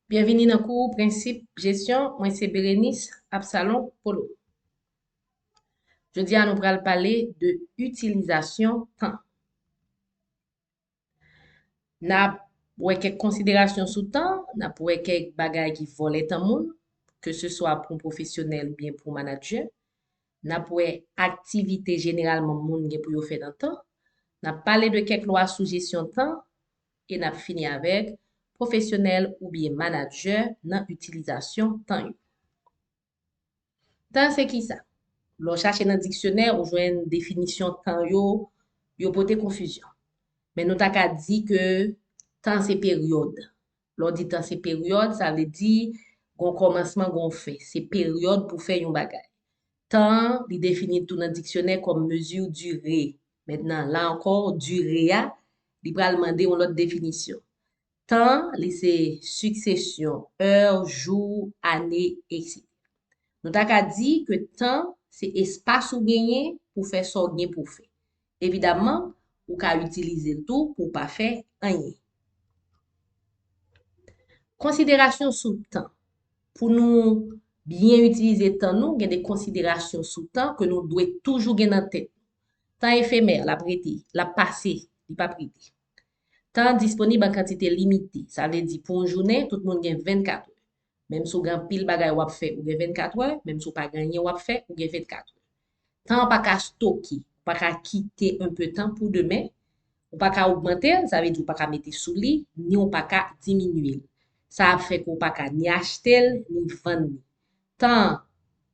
Byenvini nan kou Prensip Jesyon, mwen se Berenice Absalon Polo. Jodi a nou pral pale de itilizasyon tan. N ap wè kèk konsiderasyon sou tan, n ap wè kèk bagay ki vòlè tan moun, ke se swa pou pwofesyonèl oubyen pou manadjè. N ap wè aktivite jeneralman moun gen pou yo fè nan tan, n ap pale de kèk lwa sou jesyon tan e n ap fini avèk pwofesyonèl oubyen manadjè nan itilizasyon tan yo. Tan se kisa? Lè w chache nan diksyonè ou jwenn definisyon tan yo, yo pote konfizyon. Men nou ta ka di ke tan se peryòd, Lè w di tan se peryòd, sa vle di gon kòmansman gon fen. Se peryòd pou fè yon bagay. Tan an, li defini tou nan diksyonè kòm mesure dure. Mentnan, la ankò, dure a, li pral mande yon lòt definisyon. Tan, li se siksesyon è, jou, ane, etc. Nou ta ka di ke tan se espas ou genyen pou fè sa w gen pou w fè. Evidamman, ou ka itilize l tou pou w pa fè anyen. Konsiderasyon sou tan. Pou nou byen itilize tan nou, gen de konsiderasyon sou tan ke nou dwe toujou gen nan tèt. Tan efemè, l ap rete, l ap pase, li p ap rete. Tan disponib an kantite limite. Sa vle di pou yon jounen, tout moun gen 24 è. Menm si w gen anpil bagay w ap fè, ou gen 24 è, menm si w pa gen anyen w ap fè, ou gen 24 è. Tan an pa ka stoke, ou pa ka kite un peu tan pou demen, ou pa ka ogmante l, sa vle di ou pa ka mete sou li, ni w pa ka diminye l. Sa ap fè ke w pa ka ni achte l, ni vann li. Tan an,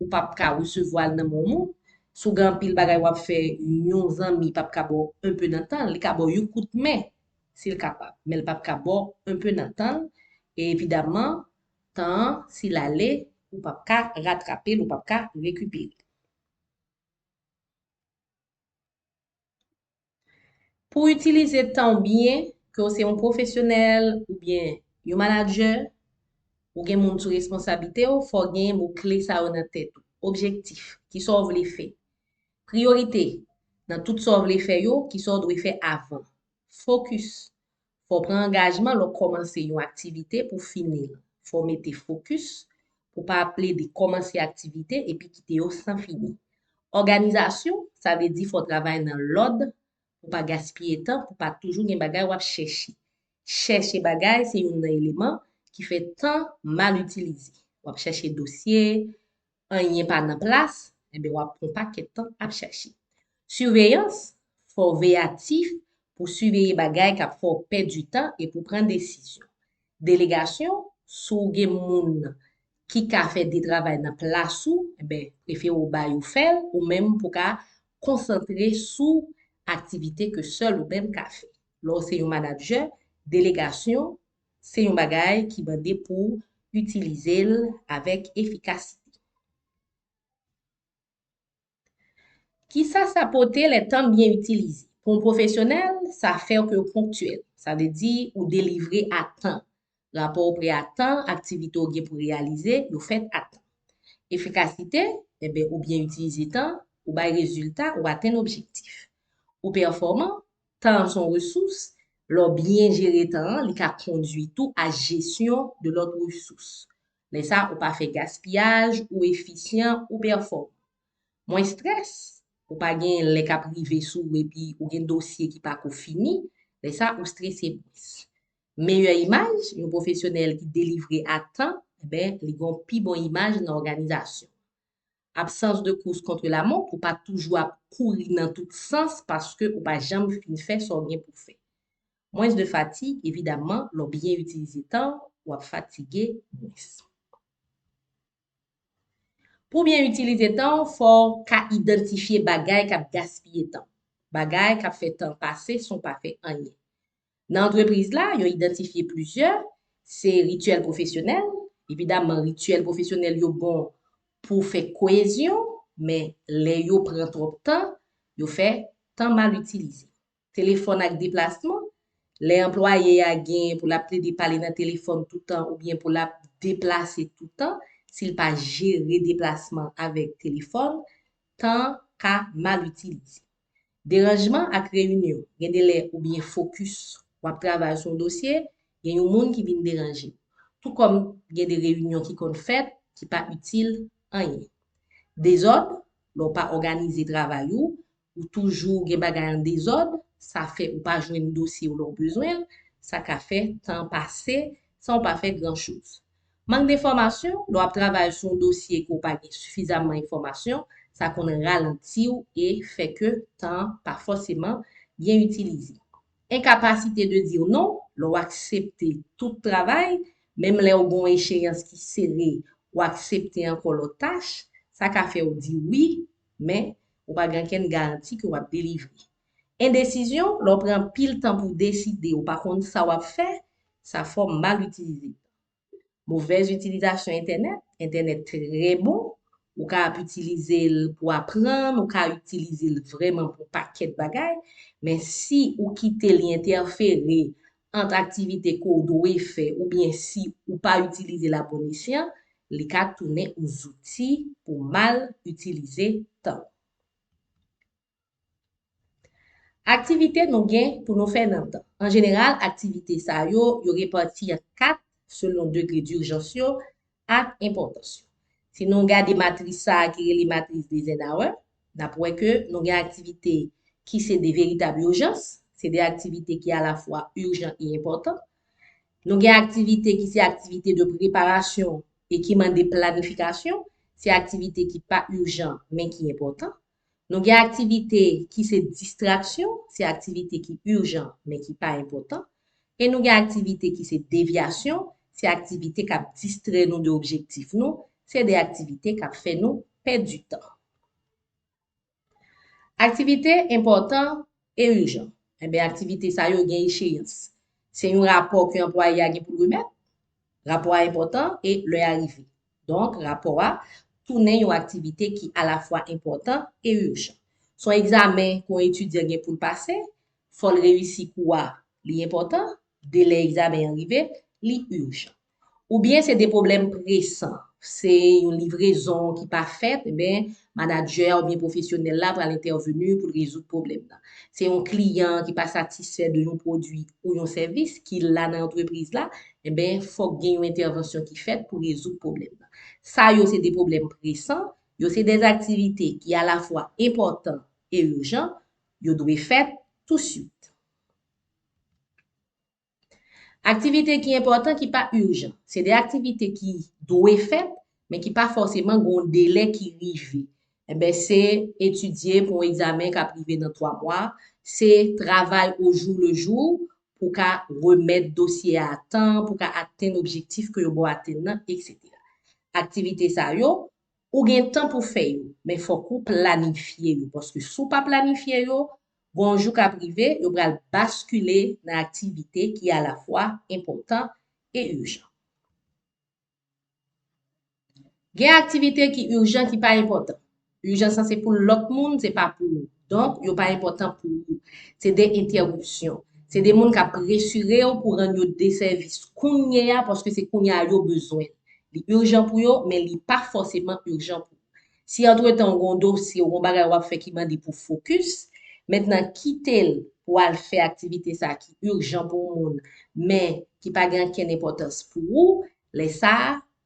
ou pa p ka resevwa l nan men w moun, si w gen anpil bagay w ap fè, yon zanmi pa p ka ba w un peu nan tan l, li ka ba w yon kout men, si l kapab, men l pap ka ba w un peu nan tan l, e evidamman tan an si l ale ou pap ka ratrape l, ou pap ka rekipere l. Pou w itilize tan w byen, ke w se yon pwofesyonèl oubyen yon manadjè, ou gen moun sou responsablite w, fò w gen mo kle sa yo nan tèt ou, objektif, kisa w vle fè, priyorite, nan tout sa w vle fè yo, kisa w dwe fè avan, Fokis Fò w pran angajman lè w kòmanse yon aktivite pou w fini l. Fò w mete fokis pou w pa ap plede kòmanse aktivite epi kite yo san fini. Òganizasyon Sa vle di fò w travay nan lòd pou w pa gaspiye tan, pou w pa toujou gen bagay w ap chèche. Chèche bagay se youn nan eleman ki fè tan mal itilize. W ap chèche dosye, anyen pa nan plas, enben w ap pran pakèt tan ap chache. Siveyans, Fò w veyatif pou w siveye bagay k ap fè w pèdi tan e pou w pran desizyon. Delegasyon, Si w gen moun ki ka fè de travay nan plas ou, enben prefere w ba yo fè l ou menm pou w ka konsantre sou aktivite ke sèl ou menm ka fè. Lè w se yon manadjè, delegasyon Se yon bagay ki mande pou w itilize l avèk efikasite. Kisa sa pote lè tan byen itilize? Pou yon pwofesyonèl, sa fè ke w ponktyèl. Sa vle di ou delivre a tan. Rapò w pre a tan, aktivite w gen pou reyalize, yo fèt a tan. Efikasite, enben ou byen itilize tan, ou bay rezilta, ou atenn objektif. Ou pèfòman, Tan an son resous, lè w byen jere tan an li ka kondwi tou a jesyon de lòt resous. Lè sa ou pa fè gaspiyaj, ou efisyan, ou pèfòman. Mwen strès, ou pa gen lè k ap rive sou ou epi ou gen dosye ki pa ko fini, lè sa ou strese mwens. Meyè imaj, yon pwofesyonèl ki delivre a tan, li gen yon pi bon imaj nan òganizasyon. Absans de kous kontre la mont pou pa toujou ap kouri nan tout sans paske ou pa janm fin fè sa w gen pou fè. Mwens de fatig, evidamman lè w byen itilize tan w, w ap fatige mwens. Pou w byen itilize tan w, fò w ka idantifye bagay k ap gaspiye tan. Bagay k ap fè tan pase san w pa fè anyen. Nan antrepriz la, yo idantifye plizyè, se rityèl pwofesyonèl, evidamman rityèl pwofesyonèl yo bon pou fè koyezyon, men lè yo pran twòp tan, yo fè tan mal itilize. Telefòn ak deplasman, lè anplwaye a gen pou l ap plede pale nan telefòn toutan oubyen pou l ap deplase toutan, si l pa jere deplasman avèk telefòn, tan ka mal itilize. Deranjman ak reyinyon, gen de lè ou byen fokis, w ap travay sou yon dosye, gen yon moun ki vin deranje. Tou kòm gen de reyinyon ki konn fèt, ki pa itil anyen. Dezòd, lè w pa òganize travay ou, ou toujou gen bagay an dezòd, sa fè ou pa jwenn dosye w lè w bezwen l, sa ka fè tan pase san w pa fè gran choz. Mank de fòmasyon, lè w ap travay sou yon dosye ke w pa gen sifizamman enfòmasyon, sa konn ralanti w e fè ke tan an pa fòseman byen itilize. Enkapasite de dire non, lè w aksepte tout travay, menm lè w gen yon echeyans ki sere, w aksepte ankò lòt tach, sa ka fè w di wi, men, ou pa gen ankenn garanti ke w ap delivre. Endesizyon, lè w pran anpil tan pou w deside, ou pa konn sa w ap fè, sa fòm mal itilize tan. Movèz itilizasyon entènèt, entènèt trè bon, ou ka ap itilize l pou aprann, ou ka itilize l vrèman pou pakèt bagay, men si ou kite li entèfere ant aktivite ke w dwe fè oubyen si ou pa itilize l a bon esyan, li ka tounen yon zouti pou mal itilize tan. Aktivite nou gen pou nou fè nan tan. An jeneral, aktivite sa yo, yo repati an 4 selon degre dirjans yo ak enpòtans yo. Si nou gade matris sa a ki rele matris d'Eisenhower, n ap wè ke nou gen aktivite ki se de veritab ijans, se de aktivite ki alafwa ijan e enpòtan. Nou gen aktivite ki se aktivite de preparasyon e ki mande planifikasyon, se aktivite ki pa ijan men ki enpòtan. Nou gen aktivite ki se distraksyon, se aktivite ki ijan men ki pa enpòtan, e nou gen aktivite ki se devyasyon, se aktivite k ap distrè nou de objektif nou, se de aktivite k ap fè nou pèdi tan. Aktivite enpòtan e ijan, enben aktivite sa yo gen echeyans. Se yon rapò ke anplwaye a gen pou l remèt. Rapò a enpòtan e lè a rive. Donk, rapò a tounen yon aktivite ki alafwa enpòtan e ijan. Se yon egzamen ke yon etidyan gen pou l pase, fò l reyisi kou a, li enpòtan, delè egzamen an rive, li ijan. Oubyen se de pwoblèm presan, se yon livrezon ki pa fèt, enben manadjè a oubyen pwofesyonèl la pral entèveni pou l rezoud pwoblèm nan. Se yon kliyan ki pa satisfè de yon pwodui ou yon sèvis ki la nan antrepriz la, enben fòk gen yon entèvansyon ki fèt pou rezoud pwoblèm nan. Sa yo se de pwoblèm presan, yo se de aktivite ki alafwa enpòtan e ijan, yo dwe fèt touswit. Aktivite ki enpòtan ki pa urjan. Se de aktivite ki dwe fèt, men ki pa fòseman gen yon delè ki rive. Enben se etidye pou yon egzamen k ap rive nan 3 mwa, se travay au jour le jour pou w ka remèt dosye a atan, pou w ka atenn objektif ke yo ba w atenn nan, eksetera. Aktivite sa yo, ou gen tan pou fè yo, men fòk ou planifye yo. Paske si w pa planifye yo, Bon jou kap rive yo pral baskile nan aktivite ki alafwa enpòtan e ijan. Gen aktivite ki ijan ki pa enpòtan. Ijans lan se pou lòt moun, se pa pou ou. Donk, yo pa enpòtan pou ou. Se de entèwipsyon. Se de moun kap presire ou pou rann yo de sèvis kounye a paske se kounye a yo bezwen. Li ijan pou yo, men li pa fòseman ijan pou ou. Si antretan ou gen yon dosye ou gen yon bagay wap fè ki mande pou fokis, mèt nan kitel pou al fè aktivite sa ki urjan pou moun men ki pa gen ankenn enpòtans pou ou, lè sa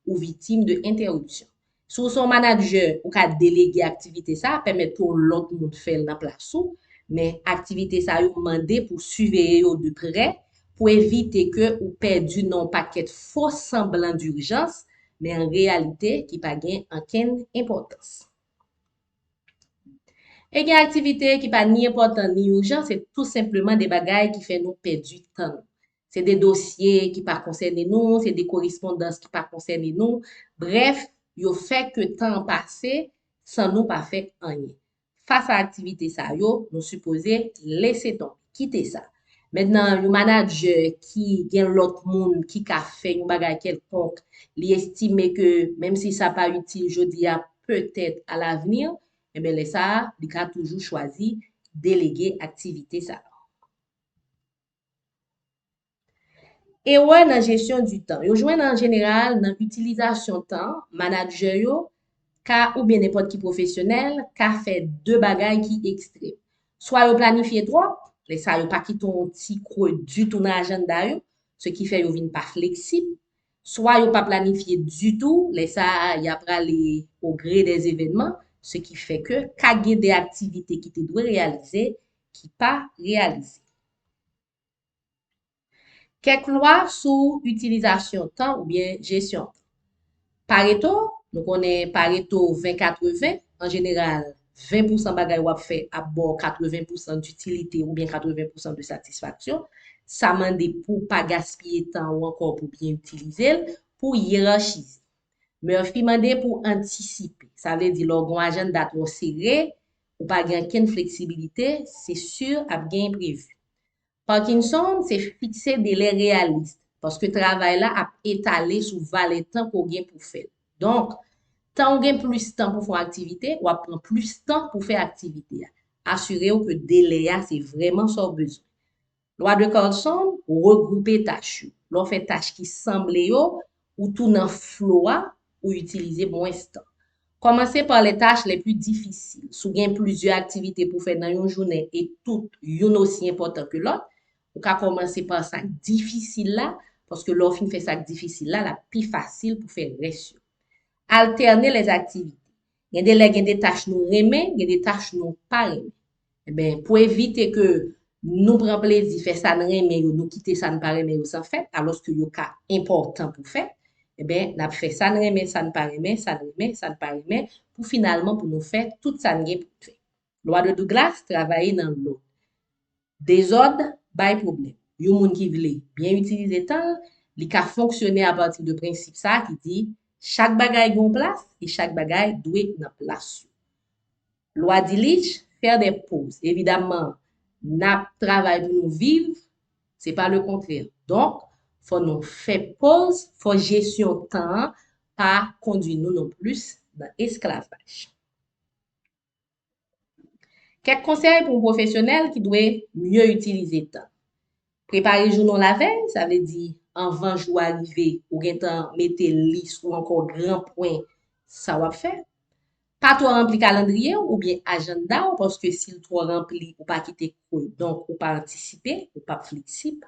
ou vitim de entèripsyon. Si w se yon manadjè ou ka delege aktivite sa pèmèt pou yon lòt moun fèl nan plas ou, men aktivite sa yo mande pou siveye yo de prè pou evite ke ou pèdi nan yon pakèt fo sanblan durjans men an reyalite ki pa gen ankenn enpòtans. E gen aktivite ki pa ni enpòtan ni urjan se tou senpleman de bagay ki fè nou pèdi tan nou. Se de dosye ki pa konsène nou, se de korespondans ki pa konsène nou, brèf, yo fè ke tan an pase san nou pa fè anyen. Fas a aktivite sa yo, nou sipoze lese tonbe, kite sa. Mentnan, yon manadjè ki gen lòt moun ki ka fè yon bagay kèlkonk, li estime ke menm si sa pa itil jodi a, petèt a lavni, enben lè sa a, li ka toujou chwazi delege aktivite sa a. Erè nan jesyon di tan yo jwenn an jeneral nan itilizasyon tan, manadjè yo ka oubyen nenpòt ki pwofesyonèl ka fè de bagay ki ekstrèm. Swa yo planifye twòp, lè sa yo pa kite yon ti kwe ditou nan ajannda yo, se ki fè yo vin pa fleksib, swa yo pa planifye ditou, lè sa a y ap ale o gre dè zevènman, se ki fè ke ka gen de aktivite ki te dwe reyalize ki pa reyalize. Kèk lwa sou itilizasyon tan oubyen jesyon tan. Pareto, nou konnen pareto 20 80, an jeneral 20 pousan bagay wap fè ap ba w 80 pousan ditilite oubyen 80 pousan de satisfaksyon, sa mande pou w pa gaspiye tan ou ankò pou byen itilize l, pou w yerachize. Murphy mande pou w antisipe, sa vle di lè w gen yon ajannda twò sere, Ou pa gen ankenn fleksibilite, se sur ap gen enprevu. Parkinson se fikse delè reyalist, paske travay la ap etale sou valè tan ke w gen pou fè l. Donk, tan ou gen plis tan pou fè yon aktivite, w ap pran plis tan pou fè aktivite a. Asire w ke delè a se vrèman sa w bezwen. Lwa de Carlson regwoupe tach yo. Lè w fè tach ki sanble yo, ou tou nan flo a, ou itilize mwens tan. Kòmanse pa lè tach lè pi difisil. Si w gen plizyè aktivite pou fè nan yon jounen e tout youn osi enpòtan ke lòt, ou ka kòmanse pa sa k difisil la, paske lè w fin fè sa k difisil la, l ap pi fasil pou fè rès yo. Altène lè aktivite. Gen de lè gen de tach nou renmen, gen de tach nou pa renmen. Enben, pou evite ke nou pran plezi fè sa n renmen yo, nou kite sa n pa renmen yo san fèt, alòske yo ka enpòtan pou fèt, enben, n ap fè sa n renmen, sa n pa renmen, sa n renmen, sa n pa renmen, pou finalman pou nou fè tout sa n gen pou n fè. Lwa de Douglas travaye nan lòd. Dezòd bay pwoblèm. Yon moun ki vle byen itilize tan l, li ka fonksyone apati de prensip sa a ki di, Chak bagay gen yon plas e chak bagay dwe nan plas yo. Lwa Dilic, faire des pauses. Evidamman, n ap travay pou nou viv, se pa lekontrè. Donk, fò nou fè poz, fò jesyon tan an pa kondui nou nonplis nan esklavaj. Kèk konsèy pou pwofesyonèl ki dwe mye itilize tan. Prepare jounen w lavèy, sa vle di anvan jou a rive, ou gen tan mete lis ou ankò gran pwen sa w ap fè. Pa twò ranpli kalandriye w oubyen ajannda w paske si l twò ranpli ou pa kite kou donk ou pa antisipe, ou p ap fleksib.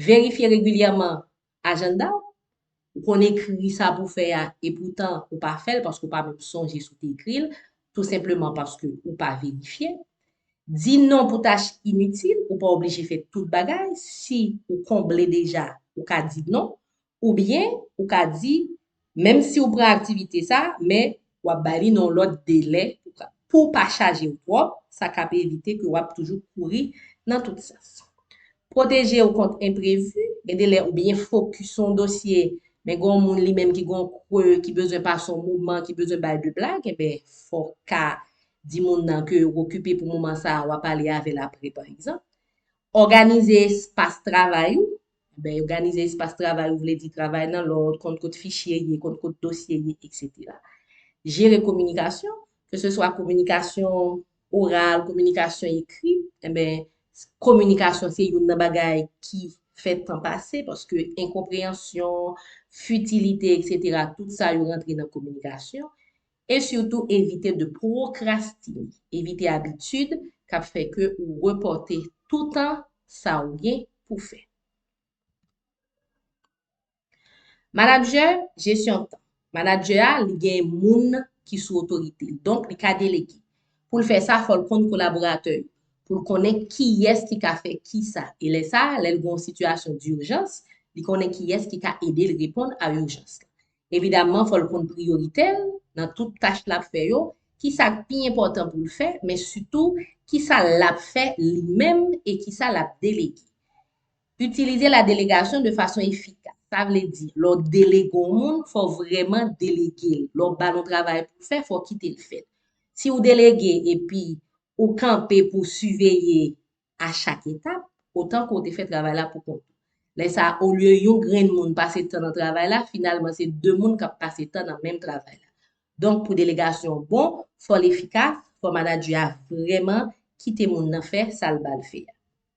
Verifye regilyèman Ajanda w? Ou konn ekri sa pou w fè a e poutan ou pa fè l paske ou pa menm sonje si w te ekri l, tou senpleman paske ou pa verifye. Di non pou tach initil, ou pa oblije fè tout bagay, si ou konble deja ou ka di non, oubyen ou ka di Menm si ou pran aktivite sa, men w ap bay li nan yon lòt delè pou w pa chaje w twòp, sa k ap evite ke w ap toujou kouri nan tout sans. Pwoteje w kont enprevi, Gen de lè ou byen fokis sou yon dosye, men gen yon moun li menm ki gen yon kre, ki bezwen pase yon moman, ki bezwen bay de blag, enben fò w ka di moun nan ke w okipe pou moman sa a, w a pale avè l apre pa egzanp. Òganize espas travay ou, Anben, oganize espas travay ou vle di travay nan lòd, konn kot fichye ye, konn kot dosye ye, eksetera. Jere kominikasyon, ke se swa kominikasyon oral, kominikasyon ekri, anben, kominikasyon se youn nan bagay ki fè tan pase, paske enkonpreyansyon, fitilite, eksetera, tout sa yo rantre nan kominikasyon. E sitou evite de pwokrastine, evite abitid k ap fè ke ou repòte toutan sa ou gen pou fè. Manadjè, jesyon tan. Manadjè a, li gen moun ki sou otorite l, donk li ka delege. Pou l fè sa, fò l konn kolaboratè yo, pou l konnen kiyès ki ka fè kisa. E lè sa, lè l gen yon sitiyasyon dijans, li konnen kiyès ki ka ede l reponn a ijans la. Evidamman fò l konn priyoritè l nan tout tach l ap fè yo, kisa k pi enpòtan pou l fè men sitou kisa l ap fè li menm e kisa l ap delege. Itilize la delegasyon de fason efikas, sa vle di lè w delege yon moun fò w vrèman delege l, lè w ba l yon travay pou l fè fò w kite l fè l. Si w delege epi ou kanpe pou w siveye a chak etap, otan ke w te fè travay la pou kont ou. Lè sa a, olye yon grenn moun pase tan nan travay la, finalman se 2 moun k ap pase tan nan menm travay la. Donk pou delegasyon an bon, fò l efikas, fò manadjè a vrèman kite moun nan fè sa l ba l fè a.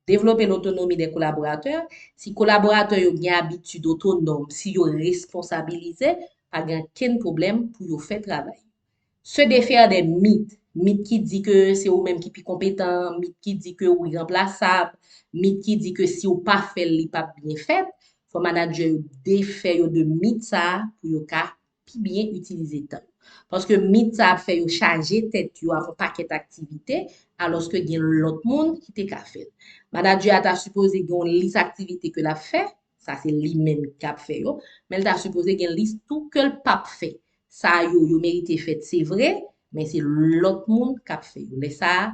Devlope lotonomi dè kolaboratè, Si kolaboratè yo gen abitid otonòm, si yo responsabilize, pa gen ankenn pwoblèm pou yo fè travay yo. Se defaire des mythes, mythes ki di ke se ou menm ki pi konpetan, mythes ki di ke ou iranplasab, mythes ki di ke si ou pa fè l li p ap byen fèt, fò manadjè yo defè yo de mythes sa a pou yo ka pi byen itilize tan yo. Paske mythes sa a ap fè yo chaje tèt yo ak yon pakèt aktivite alòske gen lòt moun ki te ka fè l. Manadjè a ta sipoze gen yon lis aktivite ke l ap fè Sa se li menm kap fè yo. Men l ta sipoze gen lis tou ke l pap fè. Sa yo, yo merite fèt se vre, men se lòt moun kap fè yo. Lè sa a,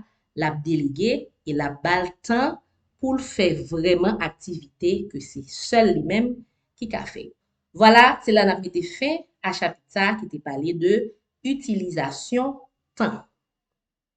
lap delege e lap ba l tan pou l fè vrèman aktivite ke se sèl li menm ki ka fè yo. Vwala, se la nap mete fen a chapit sa a ki te pale de itilizasyon tan.